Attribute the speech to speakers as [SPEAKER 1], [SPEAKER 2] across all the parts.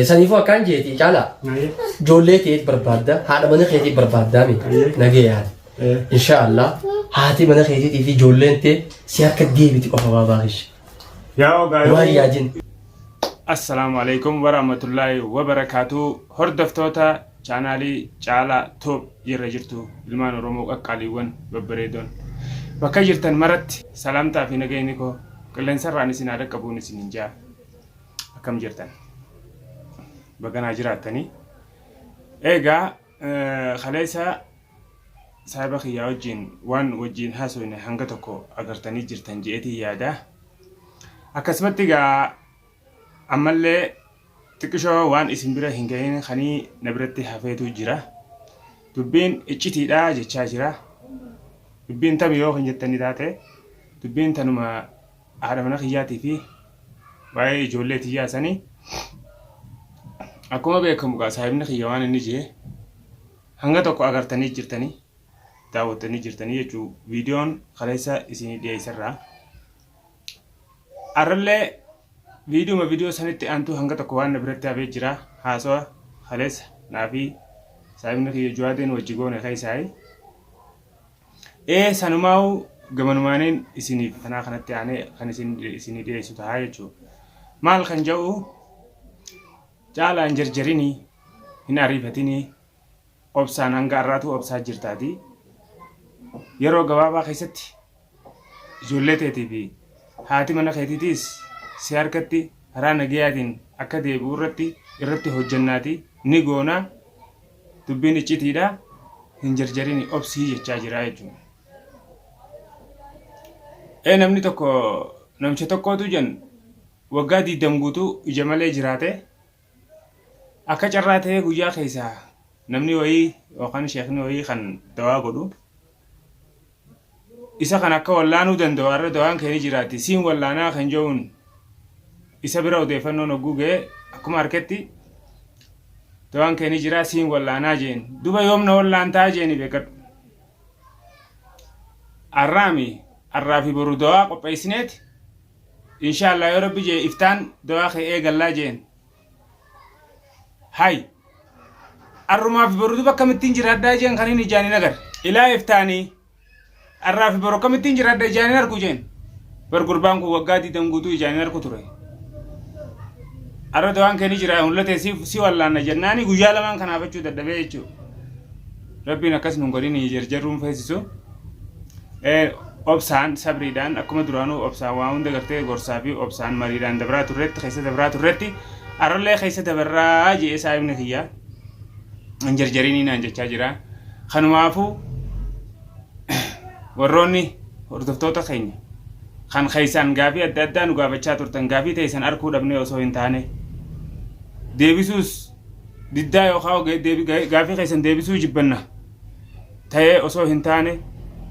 [SPEAKER 1] Saniifuu akkaan jeeti caalaa ijoollee teet barbaadda haadha mana keetii barbaaddaa mi nagee yaada. Inshaallah haati mana keetiitii fi ijoolleen tee si harka deebiti qofa baabaa kishi. Yaa ogaa
[SPEAKER 2] Waan yoo yaadin.
[SPEAKER 1] Assalaamu
[SPEAKER 2] alaikum warahmatullaahi wabarakaatu hordoftoota chaanaalii caalaa toob irra jirtu ilmaan oromoo qaqqaaliiwwan babbareedoon bakka jirtan maratti salaamtaa fi nageenyi koo qilleensarraan isin haa dhaqqabuun isin hin jaa Akkam jirtan? Baga naa jiraattanii. Egaa kaleessa saahiba kiyyaa wajjin waan wajjin haasofne hanga tokko agartanii jirtan je'eetii yaada. Akkasumatti egaa ammallee xiqqishoo waan isin bira hin gahin kanii na biratti hafeetu jira. Dubbiin iccitiidha jechaa jira. Dubbiin tami yoo kan jettanii taate dubbiin tanuma haadha mana kiyyaatii fi waa'ee ijoollee tiyyaa sanii akkuma beekamu gaa saahibni kiyya waan inni jee hanga tokko agartanii jirtanii daawwattanii jirtanii jechuu viidiyoon kaleessa isinii dhiyeesserraa arrallee viidiyuma viidiyoo sanitti aantuu hanga tokko waan na biratti hafee jira haasawa kaleessa naa fi saahibni kiyya juwaadeen wajji goone keessaayi Ee sanumaa'uu gamanumaaniin isinii fatanaa kanatti aanee kan isin isinii dhiyeessu tahaa jechuu. Maal kan ja'u caalaa hin jarjarinii hin ariifatinii obsaan hanga har'aatuu obsaa jirtaatii yeroo gabaabaa keessatti ijoollee teetii fi haati mana keetiitiis si harkatti karaa nagayaatiin akka deebi'u irratti irratti hojjannaatii ni goonaa. Dubbiin iccitiidha hin jarjarini obsii jechaa jiraa jechuudha. Ee namni tokko namicha tokkootu jan waggaa diiddam guutuu ija malee jiraate akka carraa ta'ee guyyaa keessaa namni wayii yookaan sheekni wayii kan dawaa godhu Isa kan akka wallaanuu danda'u har'a dawaan kee ni jiraatti. Siin wallaanaa kan ja'uun isa bira odeeffannoon hogguu ga'e akkuma harketti dawaan kee ni jiraa siin wallaanaa jeen. Duba yoom na wallaantaa jeeni beekadhu. Arraami arraa fi boru dawaa qopheessineeti. Inshaallah yoo rabbi jee iftaan dawaa kee eegallaa jeen. Hay. Arrumaa fi borutu bakka mittiin jiraadhaa jeen kan hin ijaan hin agar. Ilaa iftaanii. Arraa fi boru akkamittiin jiraadha ijaan hin argu jeen. Bar gurbaan kun waggaa diidam guutuu ijaan hin argu ture. Arra dawaan kee ni jira mul'ate si si wallaanna jennaani guyyaa lamaan kanaafachuu dadhabee jechuudha. Rabbiin akkas nun godhin jarjarruun feesisu obsaan sabriidhaan akkuma duraanuu obsaan waa hunda gartee gorsaa fi obsaan mariidhaan dabraa turretti keessa dabraa turretti arrallee keessa dabarraa je'ee saahibni kiyya hin jarjarinii naan jechaa jira kanumaafuu warroonni hordoftoota keenya kan keessaan gaafii adda addaa nu gaafachaa turtan gaafii teessan arkuu dhabnee osoo hin taane deebisuus diddaa yookaan gaaffii keessan deebisuu jibbanna ta'ee osoo hin taane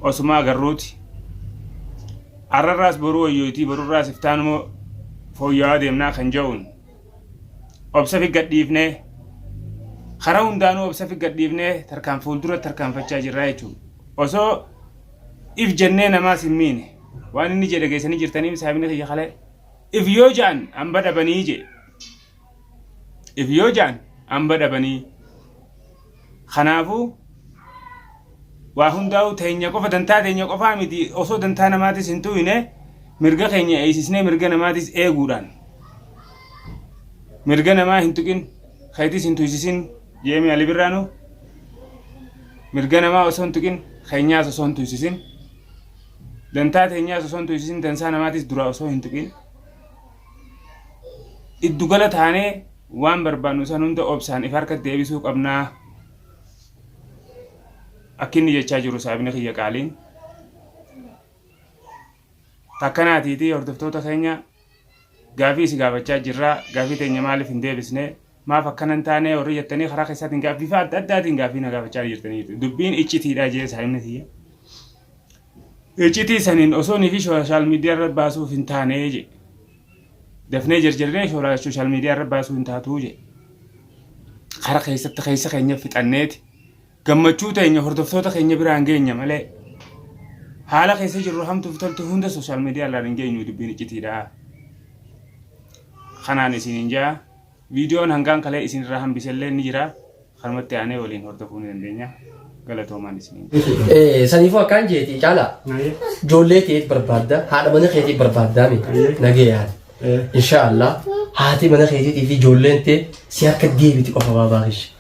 [SPEAKER 2] osuma agarruuti. Arrarraas boruu wayyootii borurraas iftaanumoo fooyya'aa deemnaa kan ja'uun obsa fi gadhiifnee karaa hundaanuu obsa fi gadhiifnee tarkaan fuuldura tarkaanfachaa jirraa jechuudha. Osoo if jennee namaas hin miine waan inni jedhe geessanii jirtanii saabni kiyya kalee if yoo ja'an hamba dhabanii jee if yoo ja'an amba dhabanii kanaafuu waa hundaa'uu teenya qofa dantaa teenya qofaa miti osoo dantaa namaatis hin tuuyne mirga keenya eeysisnee mirga namaatis eeguudhaan mirga namaa hin tuqin keetis hin tuysisin jeemee ali birraanu mirga namaa osoo hin tuqin keenyaas osoo hin tuysisin dantaa teenyaas osoo hin tuysisin dansaa namaatis duraa osoo hin tuqin giddugala taanee waan barbaannu san hunda obsaan if harkatti deebisuu qabnaa akkinni jechaa jiru saabni kiyya qaaliin takkanaatiitii hordoftoota keenya gaafii si gaafachaa jirraa gaafii teenya maaliif hin deebisne maaf akkana hin taane warri jettanii karaa keessaatiin gaa bifa adda addaatiin gaaffii na gaafachaa ni jirtanii jirtu. Dubbiin iccitiidha jee saahibni tiyya. Iccitii saniin osoo niifi sooshaal miidiyaa irra baasuuf hin taane jee. Dafnee jarjarree shoora- sooshaal miidiyaa irra baasuu hin taatuu jee. Kara keessatti keessa keenya fixanneeti. Gammachuu teenya hordoftoota keenya biraan geenya malee. Haala keessa jirru hamtuuf toltu hunda sooshaal miidiyaa irraan hin geenyu dubbiin iccitiidha. Kanaan isiniin jaa. Viidiyoon hangaan kalee isin irraa hambiselleen ni jira. Kanumatti aanee waliin hordofuu ni dandeenya. Galatoomaan isiniin. Eh, saniifuu
[SPEAKER 1] akkaan jeeti caala ijoollee teet barbaadda haadha mana keetii barbaaddaa mi nagee yaada inshaallah haati mana keetiitii fi ijoolleen tee si harka deebiti qofa baabaa kishi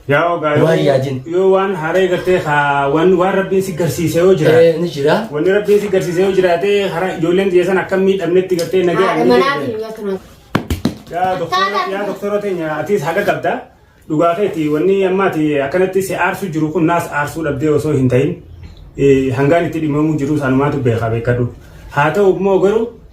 [SPEAKER 1] Yaa ogaa
[SPEAKER 2] Waan yoo- yaadin. yoo waan haree gartee haa waan waan rabbiin si garsiise yoo jiraate. Eh, ni jira. Wanni rabbiin
[SPEAKER 1] si garsiise
[SPEAKER 2] yoo jiraate hara ijoolleen xiyyeessan akka miidhamnetti gartee Haadha nagaa manaa fi guyyaa kana. Yaa doktora yaa doktora teenya atis haqa qabda. Dhugaa keeti wanni ammaati akkanatti si aarsu jiru kun naas aarsuu dhabdee osoo hin ta'in eh, hangaan itti dhimamuu jiru sanumaatu beekaa beekadhu. Haa ta'u immoo garuu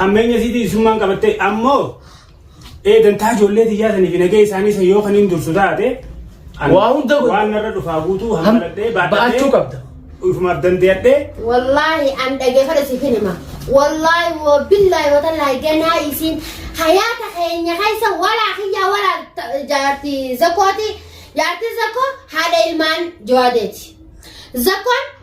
[SPEAKER 2] hammeenya isiitii isummaan qabattee ammoo eegantaa ijoollee tiyyaa saniif nagee isaanii san yoo kaniin dursu taate ani Waa hunda
[SPEAKER 1] godhe. waan narra dhufaa guutuu
[SPEAKER 2] Ham- hammaladhee ba'achuu qabda.
[SPEAKER 1] ufumaaf dandeeyadhee
[SPEAKER 2] Wallaahi
[SPEAKER 3] an dhageeffadha si finima. Wallaahi woo billaahi wata laahi ganaa isiin hayaata keenya keessa walaa kiyyaa walaa ta- jaarti zakooti jaarti zakoo haadha ilmaan jawaadeeti. Zakoon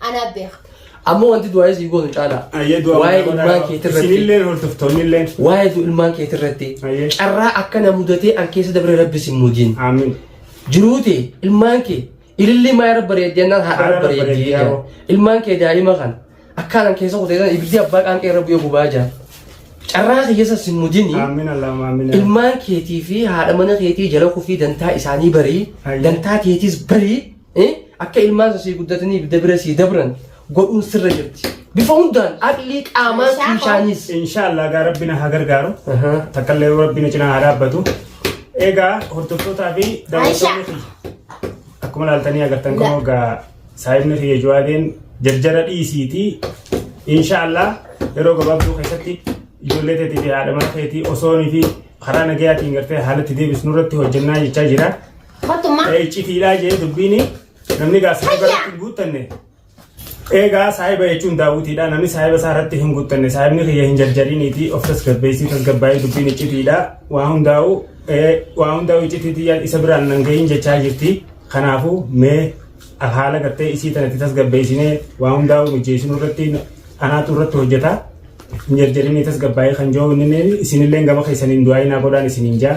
[SPEAKER 3] Anaa beeka. Ammoo wanti du'aayii
[SPEAKER 1] sii goonu caalaa. Ayyee du'a Waa'ee godhaa. ilmaan keetii irratti. Isinilleen hordoftoonnilleen.
[SPEAKER 2] Waa'ee du- ilmaan keetii
[SPEAKER 1] irratti. Ayyee. Carraa akkana mudatee an keessa dabre rabbi sin muudin. Amiin.
[SPEAKER 2] Jiruute
[SPEAKER 1] ilmaan kee ilillii maa irra bareeddi jennaan haadha irra Haadha irra bareeddi bareeddi, jedhan. yaa'u. Ilmaan kee daa'ima kan akkaan an keessa kutee jedhan ibiddi abbaa qaanqee irra bu'ee gubaa jiran. Carraa kee keessa sin muudini. Amiin Allahumma amiin.
[SPEAKER 2] Ilmaan keetii fi
[SPEAKER 1] haadha mana keetii jala kufii dantaa isaanii barii Ayyee. dantaa keetiis barii Akka ilmaan sun sii guddataniif dabira sii dabran godhuun sirra jirti. Bifa hundaan aqlii qaamaa tuushaanis. Inshaallah gaa rabbi
[SPEAKER 2] na haa gargaaru. Takkaallee rabbi na cinaa haa dhaabbatu. Egaa hordoftootaa fi daawwattoonni kiyya. Akkuma ilaaltanii agartan kunoo gaa saayibni kiyya jawaadeen jarjara dhiisiitii inshaallah yeroo gabaabduu keessatti ijoollee teetii fi haadha mana keetii osoonii fi karaa nagayaatiin gartee haalatti deebisnu irratti hojjennaa jechaa jira. Kottummaa. Ee iccitiidhaa jee dubbiini namni gaa saahiba Hayya! irratti hin guuttanne. Eegaa saahiba jechuun daawwitiidha namni saahiba isaa irratti hin guuttanne saahibni kiyya hin jarjariniiti of tasgabbeessii tasgabbaa'ee dubbiin iccitiidha waa hundaa'u ee, waa hundaa'u iccitiitii yaad isa biraan nan gahin jechaa jirti kanaafuu mee al- haala gartee isii tanatti tasgabbeessinee waa hundaa'u mijeessinu irratti anaatu irratti hojjeta hin jarjarinii tasgabbaa'ee kan jiru inni isinillee gama keessaniin du'aa inaa godhaan isiniin jaa